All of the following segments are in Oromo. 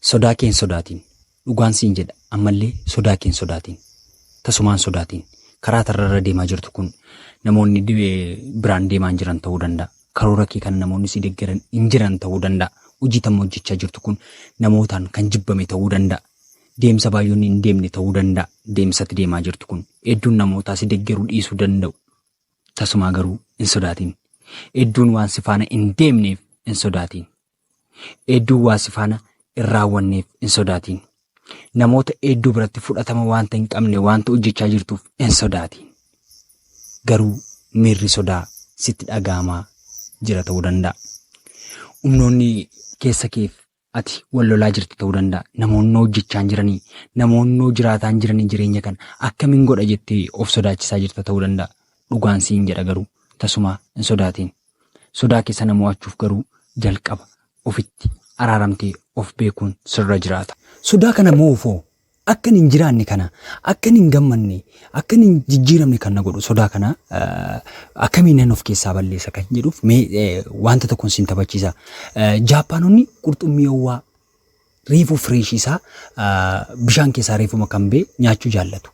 Sodaa kee hin sodaatin. Dhugaan siin jedha ammallee sodaa kee hin sodaatin. Tasumaa hin sodaatin. Karaa tarra irra deemaa jirtu kun namoonni di- eh, biraan deemaa hin jiran ta'uu danda'a. Karoora kee kana namoonni si deggeran hin jiran ta'uu danda'a. Hojii tamma hojjechaa jirtu kun namootaan kan jibbame ta'uu danda'a. Deemsa baay'oonni hin deemne ta'uu danda'a. Deemsatti deemaa jirtu kun hedduun namootaa si deggeruu dhiisuu danda'u. Tasumaa garuu hin sodaatin. Hedduun waan si faana hin deemneef hin sodaatin. Eedduu waa si faana hin raawwanneef hin sodaatiin. Namoota eedduu biratti fudhatama waanta hin qabne waanta hojjechaa jirtuuf hin sodaatiin. Garuu miirri sodaa sitti dhaga'amaa jira ta'uu danda'a. Humnoonni keessa keef ati wal lolaa jirta ta'uu danda'a. Namoonni hojjechaan jiranii, namoonni jiraataan jiranii jireenya kana akkamiin godha jettee of sodaachisaa jirta ta'uu danda'a. Dhugaan siin jedha garuu tasumaa hin sodaatiin. Sodaa kee sana mo'achuuf garuu jalqaba ofitti araaramtee of beekuun sirra jiraata. Sodaa kana mo'uuf hoo akkan hin jiraanne kana akkan hin gammanne akkan hin jijjiiramne kan na godhu sodaa kana akkamiin nan of keessaa balleessa kan jedhuuf mee wanta tokkon siin taphachiisa. Jaappaanonni qurxummii owwaa reefuu fresh isaa bishaan keessaa reefuma kan bee nyaachuu jaallatu.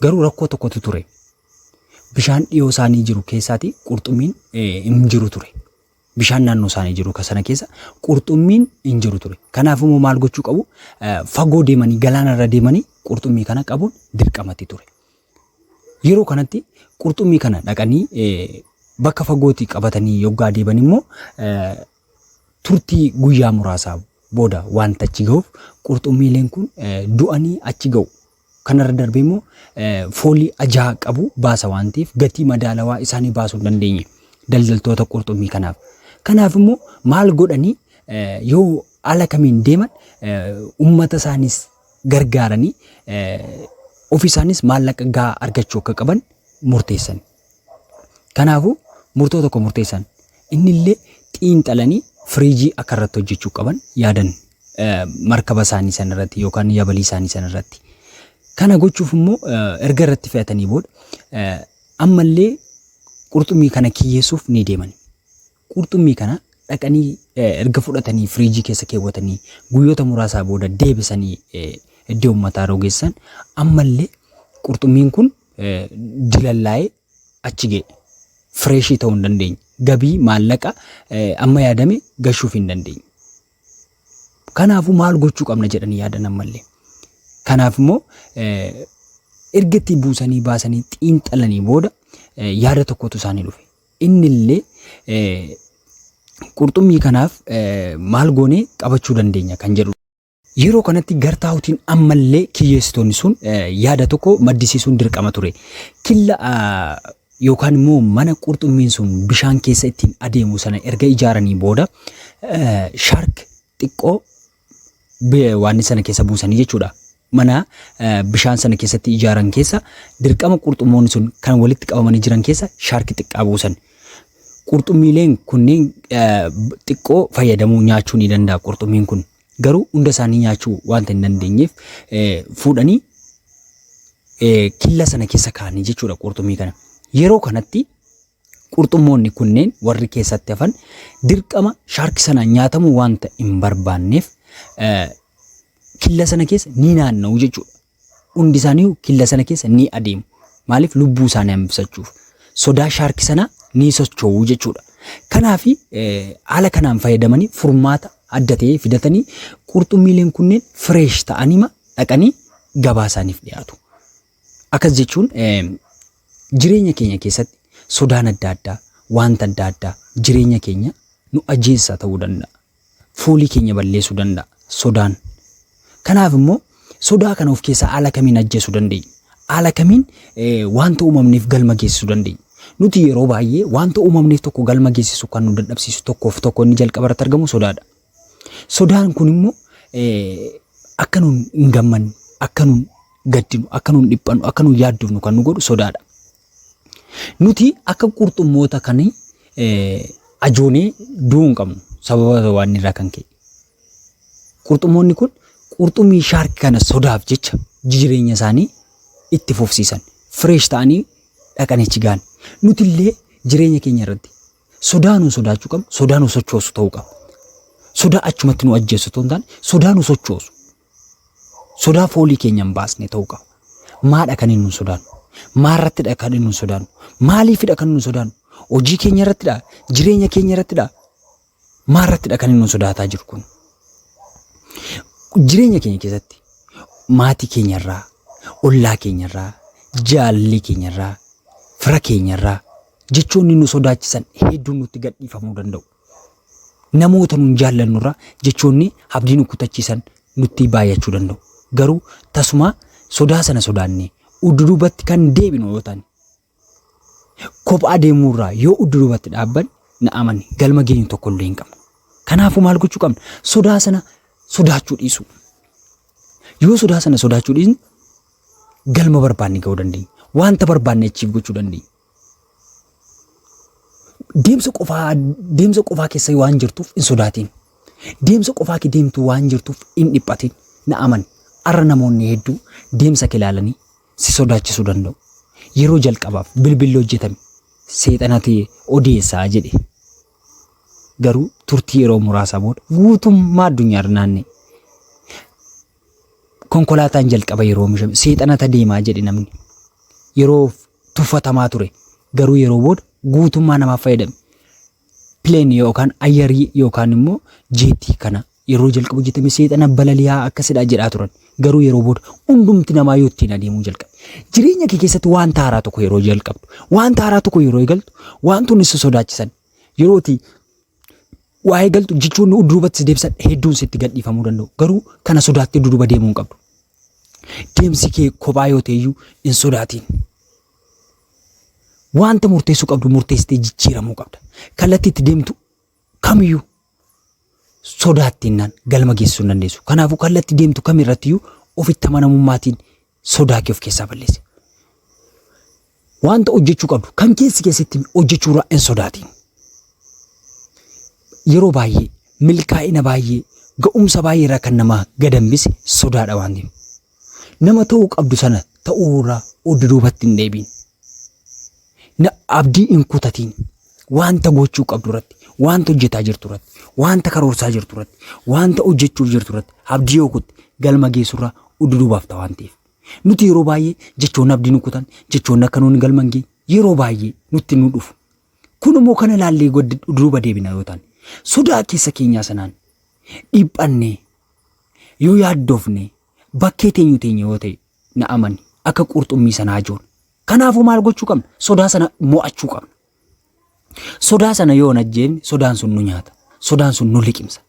Garuu rakkoo tokkotu ture. Bishaan dhiyoo isaanii jiru keessaati qurxummiin hin jiru ture. Bishaan naannoo isaanii jiru sana keessa qurxummiin hin jiru ture. Kanaaf immoo maal gochuu qabu? Fagoo deemanii galaana irra deemanii qurxummii kana qabuun dirqamatti ture. Yeroo kanatti qurxummii kana dhaqanii bakka fagootii qabatanii yoggaa deeban immoo Turtii guyyaa muraasaa booda wanta achi ga'uuf qurxummiileen kun du'anii achi ga'u. Kanarra darbee immoo foolii ajaa qabu baasa waan ta'eef gatii madaalawaa isaanii baasuu hin dandeenye daldaltoota qurxummii kanaaf. Kanaaf immoo maal godhanii yoo ala kamiin deeman uummata isaanis gargaaranii ofi isaanis maallaqa gahaa argachuu akka qaban murteessan. Kanaafuu murtoo tokko murteessan. Innillee xiinxalanii firiijii akka irratti hojjechuu qaban yaadan markaba isaanii san irratti yookaan yabalii isaanii san irratti. Kana gochuuf immoo erga irratti fe'atanii booda ammallee qurxummii kana kiyyeessuuf ni deeman. Qurxummii kana dhaqanii erga fudhatanii firiijii keessa keewwatanii guyyoota muraasaa booda deebisanii iddoo ummataa yeroo geessan ammallee qurxummiin kun dilallaa'ee achi ga'e. Fireeshii ta'uu hin dandeenye. Gabii maallaqa amma yaadame gashuuf hin dandeenye. Kanaafuu maal gochuu qabna jedhanii yaadan ammallee. Kanaaf immoo erga itti buusanii baasanii xiinxalanii booda yaada tokkotu isaanii dhufe. Innillee, Qurxummii kanaaf maal goonee qabachuu dandeenya? kan jedhu. Yeroo kanatti gartaa'utiin ammallee kiyyeessitoonni sun yaada tokko maddisiisuun dirqama ture. Killa yookaan immoo mana qurxummiin sun bishaan keessa ittiin adeemu sana erga ijaaranii booda shaark xiqqoo waanni sana keessa buusanii jechuudha. Mana bishaan sana keessatti ijaaran keessa dirqama qurxummoonni sun kan walitti qabamanii jiran keessa shaarki xiqqaa buusan. Qurxummiileen kunniin xiqqoo fayyadamuu nyaachuu ni danda'a qurxummiin kun. Garuu hunda isaanii nyaachuu wanta hin dandeenyeef fuudhanii killa sana keessa kaa'anii jechuudha qurxummii kana. Yeroo kanatti Qurxummoonni kunneen warri keessatti hafan dirqama shaarki sanaan nyaatamuu wanta hin barbaanneef killa sana keessa ni naanna'u jechuudha. Hundi isaanii killa sana keessa ni adeemu. Maaliif lubbuu isaanii hambisachuuf sodaa shaarki sanaa ni socho'u jechuudha. Kanaaf haala kanaan fayyadamanii furmaata adda ta'ee fidatanii qurxummiileen kunneen fireesh ta'anima dhaqanii gabaa isaaniif dhiyaatu. Akkas jechuun jireenya keenya keessatti sodaan adda addaa, wanta adda addaa jireenya keenya nu ajjeessa ta'uu danda'a. Foolii keenya balleessuu danda'a sodaan. Kanaaf immoo sodaa kana of keessaa haala kamiin ajjeesuu dandeenya? Haala kamiin wanta uumamneef galma geessisuu dandeenya? Nuti yeroo baay'ee wanta uumamneef tokko galma geessisu kan nu dadhabsiisu tokkoof tokko inni jalqaba irratti argamu sodaadha. Sodaan kun immoo akka nuun hin gammanne, akka nuun gaddinu, akka nuun dhiphannu, akka nuun yaaddofnu kan nu godhu sodaadha. Nuti akka qurxummoota kan ajoonee du'uu hin qabnu sababa waan irraa kan ka'e. Qurxummoonni kun qurxummii shaarki kana sodaaf jecha jireenya isaanii itti fufsiisan. Fireesh ta'anii dhaqanichi gahan. Nuti illee jireenya keenya irratti Sodaa nu sodaachuu qabnu, sodaa nu sochoosu ta'uu qaba. Sodaa achumatti nu ajjeessu ta'uu hin taane, sodaa nu sochoosu. Sodaa foolii keenya hin baasne ta'uu qaba. Maadha kan inni nu sodaannu? Maarrattidha kan inni nu sodaannu? Maaliifidha kan inni nu sodaannu? Hojii keenya irrattidha? Jireenya keenya irrattidha? Maarrattidha kan inni nu sodaataa jiru kun? Jireenya keenya keessatti maatii keenyarraa, ollaa keenyarraa, jaallee keenyarraa, fira keenyarraa, Jechoonni nu sodaachisan hedduun nutti gadhiifamuu danda'u. Namoota nun jaallannurra jechoonni abdii nu kutachiisan nutti baay'achuu danda'u. Garuu tasumaa sodaa sana sodaannee udduduubatti kan deebinu yoo taane kophaa deemuurraa yoo udduduubatti dhaabban na amani galma geenyu tokko illee hin qabnu. Kanaafuu maal gochuu qabna? Sodaa sana sodaachuu dhiisuu. Yoo sodaa sana sodaachuu dhiisne galma barbaanne ga'uu dandeenya. Wanta barbaanne achiif gochuu dandeenya. Deemsa qofaa deemsa qofaa keessa waan jirtuuf hin sodaatiin. Deemsa qofaa kee deemtu waan jirtuuf hin dhiphatiin. Na amani. Har'a namoonni hedduu deemsa kee ilaalanii si sodaachisuu danda'u. Yeroo jalqabaaf bilbilli hojjetame seexanati odeessaa jedhe. Garuu turtii yeroo muraasaa booda guutummaa addunyaa irra naanna'e. Konkolaataan jalqaba yeroo oomishame seexanata deemaa jedhe namni. Yeroo tuffatamaa ture garuu yeroo booda guutummaa namaaf fayyadame. Pileen yookaan ayyarii yookaan immoo jeetii kana yeroo jalqabu hojjetame seexana balali'aa akkasidha jedhaa turan. Garuu yeroo booda hundumti namaa yoo ittiin adeemuu jalqabe. Jireenya kee keessatti wanta haaraa tokko yeroo jalqabdu, wanta haaraa tokko yeroo eegaltu, wantoonni si sodaachisan yerooti Waa'ee galtu jechoonni duubatti si deebisan hedduun sitti gadhiifamuu danda'u. Garuu kana sodaattee duduba deemuu hin qabdu. Deemsi kee kophaa yoo ta'eyyuu hin sodaatiin. Wanta murteessuu qabdu murteessitee jijjiiramuu qabda. Kallattii itti deemtu kamiyyuu sodaattiinnaan galma geessisuu hin dandeessu. Kanaafuu kallattii deemtu kamirrattiyyuu ofitti amanamummaatiin sodaa kee of keessaa balleessi. Wanta hojjechuu qabdu kan keessi keessatti hojjechuu irraa hin sodaatiin. Yeroo baay'ee milkaa'ina baay'ee ga'umsa baay'ee irraa kan namaa gad hambise sodaadha waan ta'eef. Nama ta'uu qabdu sana ta'uu irraa oddu duubatti hin deebiin. Na abdii hin kutatiin. Wanta gochuu qabdu irratti, wanta hojjetaa jirtu irratti, wanta karoorsaa jirtu irratti, wanta hojjechuuf jirtu irratti abdii yoo kutte galma geessurraa ududuubaaf ta'a waan ta'eef. Nuti yeroo baay'ee jechoonni abdii nu kutan, jechoonni akka nuun galma hin geenye yeroo baay'ee nutti nu dhufu. Kun immoo kana ilaallee goddi- ududuuba deebina yoo taane sodaa keessa keenyaa sanaan dhiphannee yoo yaaddofne Bakkee teenyu teenya yoo ta'e na amani akka qurxummii sana hajoona. Kanaafuu maal gochuu qabna? Sodaa sana mo'achuu qabna. Sodaa sana yoo hin ajjeefne sodaan sun nu nyaata. Sodaan sun nu liqimsa.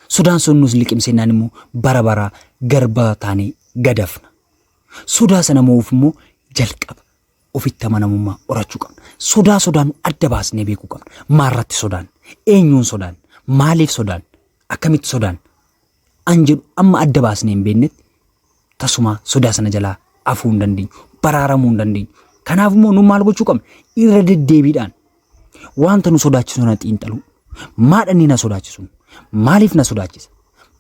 Sodaan sun nus liqimsennaan immoo bara baraa garbaa taanee gadafna. Sodaa sana mo'uuf immoo jalqaba ofitti amanamummaa horachuu qabna. Sodaa sodaan adda baasnee beekuu qabna. Maarratti sodaan? Eenyuun sodaan? Maaliif sodaan? Akkamitti sodaan? an jedhu amma adda baasnee hin beeknetti tasumaa sodaa sana jalaa afuu hin dandeenyu, baraaramuu hin dandeenyu. Kanaaf immoo nu maal gochuu qabna? Irra deddeebiidhaan wanta nu sodaachisu na xiinxaluu. Maadhanni na sodaachisu? Maaliif na sodaachisa?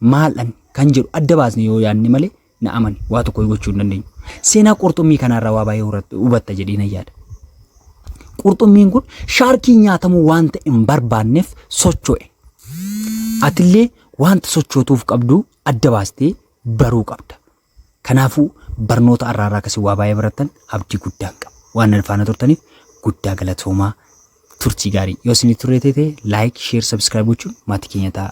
Maaldhan kan jedhu adda baasnee yoo yaadne malee Na amani waa tokko gochuu hin dandeenyu. Seenaa qurxummii kanarraa waa baay'ee hurat- hubatta jedhee nan yaada. Qurxummiin kun shaarkii nyaatamuu wanta hin barbaanneef socho'e. Atillee wanta sochootuuf qabdu adda baastee baruu qabda. Kanaafuu barnoota arraarraa akkasii waa baay'ee barattan abdii guddaan qaba. Waan na faana turtaniif guddaa galatoomaa turtii gaarii. Yoo isinii turee ta'e like, share, subscribe gochuun maatii keenya ta'a.